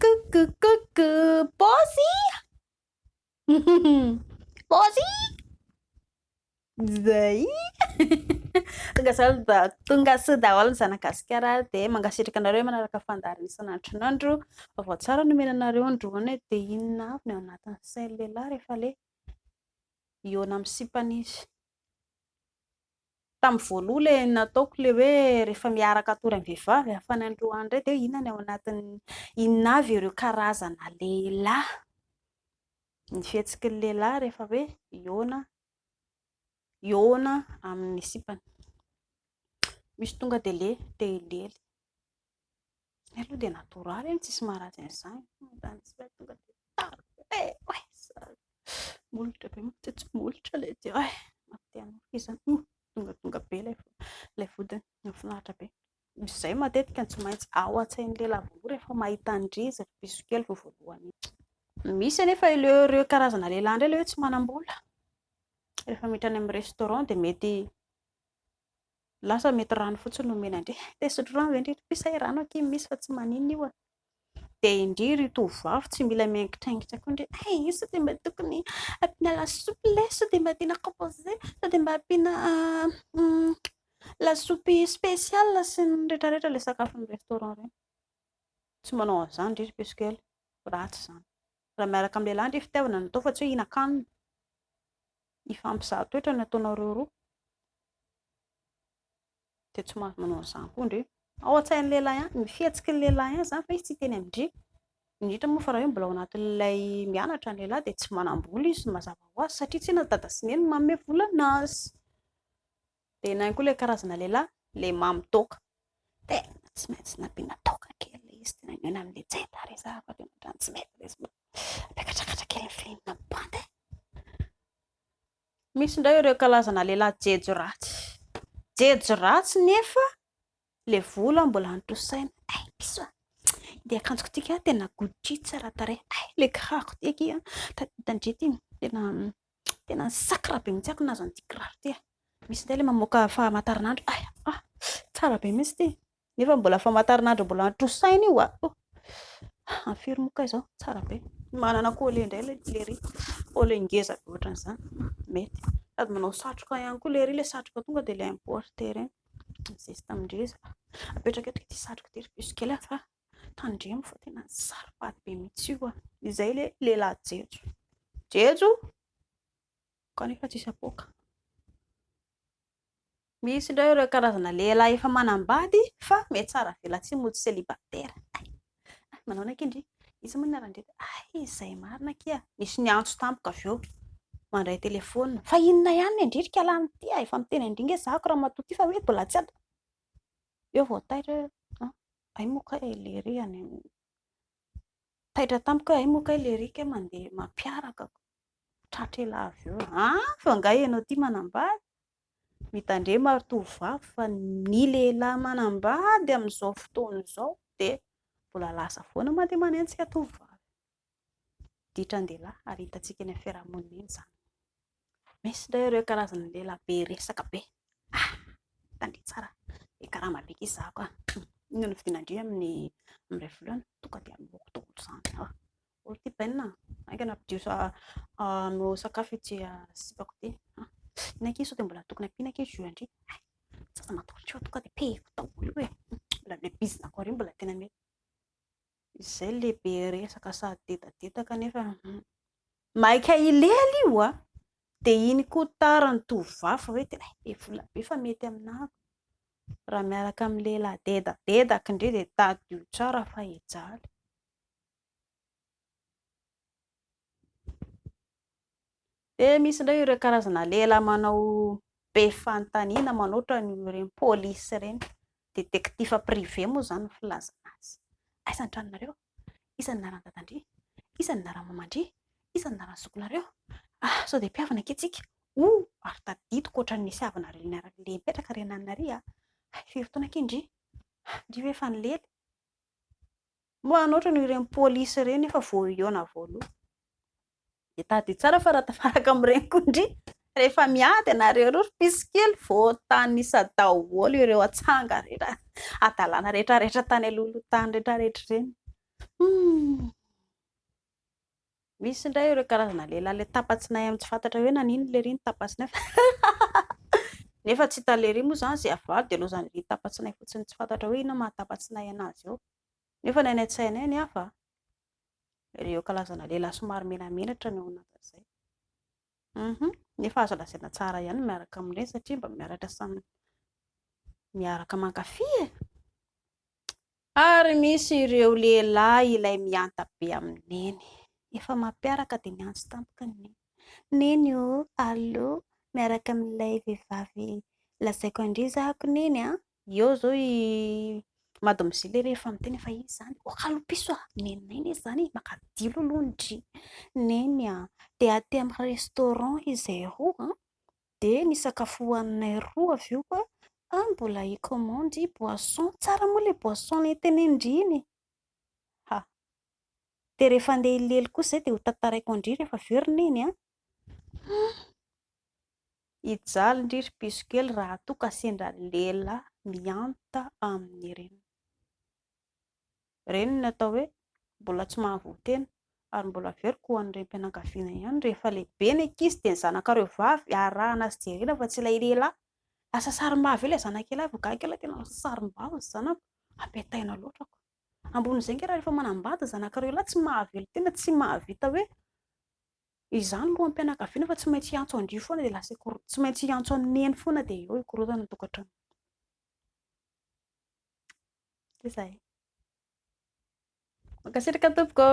Coucou, coucou, paozy! paozy! Zay! tonga zao da tonga soa daholo ny zanagasikara dia mangasitraka anareo manaraka fandaharana isan'andro n'andro vaovao tsara nomena anareo androany hoe dia inona avy ny ao anatin'ny sain'ny lehilahy rehefa le hihaona amin'ny sipany izy. Tamin'ny voaloha ilay nataoko ilay hoe rehefa miaraka hatory amin'ny vehivavy hafa any an-droa any indray dia inona ny ao anatiny, inona avy ireo karazana lehilahy, ny fihetsiky ny lehilahy rehefa hoe hihaona, hihaona amin'ny sipany. Misy tonga dia le te hilely. Zay aloha dia natoraly e, tsisy maharatsy an'izany. Mandany tsy ilay tonga dia tara be oay sady molotra be mantsy tsy molotra ilay dia oay mate hanoroka izy zany. Tonga tonga be ilay ilay vodiny, nahafinaritra be. Misy izay matetika no tsy maintsy ao an-tsain'ny lehilahy voalohany rehefa mahita an-dry zareo bisokely vao voalohany iny. Misy anefa ilay ireo karazana lehilahy indray ilay hoe tsy manam-bola, rehefa miditra any amin'ny restaurant dia mety Lasa mety rano fotsiny no omena an-dry. Te hisotro rano ve indry ry Pisa e? Rano akia no misy fa tsy maninona io a! Dia indry ry tovovavy tsy mila miangitrangitra koa indry e! Io sao dia mba tokony ampiana lasopy ilay sao dia mba ampiana composé sao dia mba ampiana lasopy spécial sy ny rehetrarehetra ilay sakafon'ny restaurant ireny. Tsy manao an'izany indry ry Piso kely, ratsy izany. Raha miaraka amin'ny lehilahy ndry fitiavana no atao fa tsy hoe hihinan-kanina. Hifampizaha toetra no ataonareo roa. Dia tsy mahazo manao an'izany koa ndry. Ao an-tsain'ny lehilahy ihany, ny fihetsiky ny lehilahy ihany izany fa izy tsy hiteny amin-dry. Indrindra moa fa raha hoe mbola ao anatin'ilay mianatra ny lehilahy dia tsy manam-bola izy mazava ho azy satria tsinona dada sy neny no manome vola an'azy. Dia nahy koa ilay karazana lehilahy, ilay mamy toaka. Dia tsy maintsy nampiana toaka kely ilay izy, dia naingana amin'ilay jaitany izy fa tena ohatran'ny tsy mety ilay izy. Miakatrakatra kely ny filihy nampibandy e! Misy indray ireo karazana lehilahy jejo ratsy. Jejo ratsy nefa Le vola mbola antrosaina. Ay bisous. Dia akanjoko tika tena Gucci tsara tarehy. Ay le kiraroko ty akia. Tandry ty tena tena sacre be mihitsy ako nahazo an'ity kiraro ty. Misy ndray le mamoaka famataranandro. Ay ah tsara be mihitsy ty. Nefa mbola famataranandro mbola antrosaina io ah. Amin'ny firy moa kay izao? Tsara be. Manana collier indray le lery. Collier ngeza be ohatran'izany. Mety. Sady manao satroka ihany koa lery le satroka tonga dia le importer iny. Zesta amin-dreza. Apetrako eto ity satroko ity ry piso kely fa tandremo fa tena saropady be mihitsy io. Izay ilay lehilahy jejo. Jejo! Kanefa tsisy apoaka. Misy indray ireo karazana lehilahy efa manambady fa mihatsara velatsihy mody célibataire. Hay manaona akia ndry? Iza moa ny naran-dry? Hay izay marina akia! Nisy niantso tamiko avy eo mandray telefaonina, fa inona ihany ny an-dry ry kialahy mitia a! Efa miteny an-dry nge zako ramatoa ty fa hoe mbola tsy ato! Eo vao taitra hoe an! hay moa kay le ry any an! Taitra tamiko hoe hay moa kay le ry kay mandeha mampiaraka ko! Tratra elah avy eo an! Fa angaha ianao ty manambady? Mitandrema ry tovovavy fa ny lehilahy manambady amin'izao fotoana izao dia mbola lasa foana mandeha manenjika tovovavy. Ditran-dehilahy ary hitantsika eny amin'ny fiarahamonina eny izany. Misy indray ireo karazana lehilahy be resaka be. Ah! Tandremo tsara, be karama be kisa aho ka. Inona no vidiana indray amin'ny iray volana? Tonga dia aloako daholo izany. Olo ty Ben a! Aingana ampidio hanao sakafo ity sipako ity. Inona akia sao dia mbola tokony ampiana akia jus ndry. Tsy aza matolotry fa tonga dia pehiko daholo io e. Mbola ilay bizinako ary mbola tena mety. Izay le be resaka sady dedadedaka nefa maika hilely io a! Dia iny koa tara ny tovovavy fa hoe tena be vola be fa mety aminah. Raha miaraka amin'ny lehilahy dedadedaka ndry dia tadidio tsara fa hijaly. Dia misy indray ireo karazana lehilahy manao be fanontaniana manao ohatran'ny ireny polisy ireny. Détectif privé moa izany ny filazana azy. Aiza ny tranonareo? Iza ny anaran'i dadan-dry? Iza ny anaran'i maman-dry? Iza ny anaran'ny zokinareo? Ah, sao dia mpihavana ange tsika? Oh, ary tadidiko ohatran'ny nisy havanareo niara-nileha nipetraka ry ananina ry a! Hay, firy taona ange ny ndry? Ndry ve efa nilely? Mba hanoatra an'io ireny polisy ireny efa voahiona voaloha. Dia tadidio tsara fa raha tafaraka amin'ireny koa ndry rehefa miady ianareo roa ry mpisy kely voatanisa daholo ireo atsanga rehetra adalana rehetra rehetra tany alohaloha tany rehetra rehetra ireny. Hmm. Misy indray ireo karazana lehilahy le tapa-tsinay amin'ny tsy fantatra hoe naninona le ry ny tapa-tsinay fa nefa tsy hitan'le ry moa izany izay avalo dia lozan'ireny tapa-tsinay fotsiny tsy fantatra hoe inona mahatapa-tsinay anazy eo. Nefa ny any an-tsaina any hafa a! Ireo kalazana lehilahy somary menamenatra no ao anatin'izay. Hum! Nefa azo lazaina tsara ihany ny miaraka amin'ireny satria mba miaraka samy miaraka mankafy e! Ary misy ireo lehilahy ilay mihanta be amin'ny neny. Efa mampiaraka dia miantso tampoka ny neny. Neny o! Allo! Miaraka amin'ilay vehivavy lazaiko an-dry izaho ko neny a! Eo izao i mademoiselle rehefa miteny fa izy izany hoakalopiso a! nenay ne izany e! makadilo aloha ny dry neny a! dia aty amin'ny restaurant izay roa an! dia nisakafo hohaninay roa avy eo koa fa mbola hi commande boisson, tsara moa ilay boisson nentenin-dry iny e! dia rehefa andeha hilely kosa izay dia hotantaraiko an-dry rehefa avy eo ry neny a! hijaly ndry ry piso kely raha toa ka sendra lehilahy mihanta amin'ny reniny. Reniny atao hoe mbola tsy mahavoa tena ary mbola averiko ho an'ny renim-pianakaviana ihany, rehefa lehibe ny ankizy dia ny zanakareo vavy arahana sy jerena fa tsy ilay lehilahy, lasa sarim-bava eo ilay zanak'ialahy vao gaga ialahy tena lasa sarim-bava ry zanako, ampitaina loatra ko. Ambonin'izay ngah raha rehefa manambady ny zanakareo lahy tsy mahavelo tena, tsy mahavita hoe Izany loham-pianakaviana fa tsy maintsy hiantso an'dry foana dia lasa ikorontana, tsy maintsy hiantso an'i neny foana dia eo ikorontana ny tokantrano. Dia izay. Mankasitraka tompoko.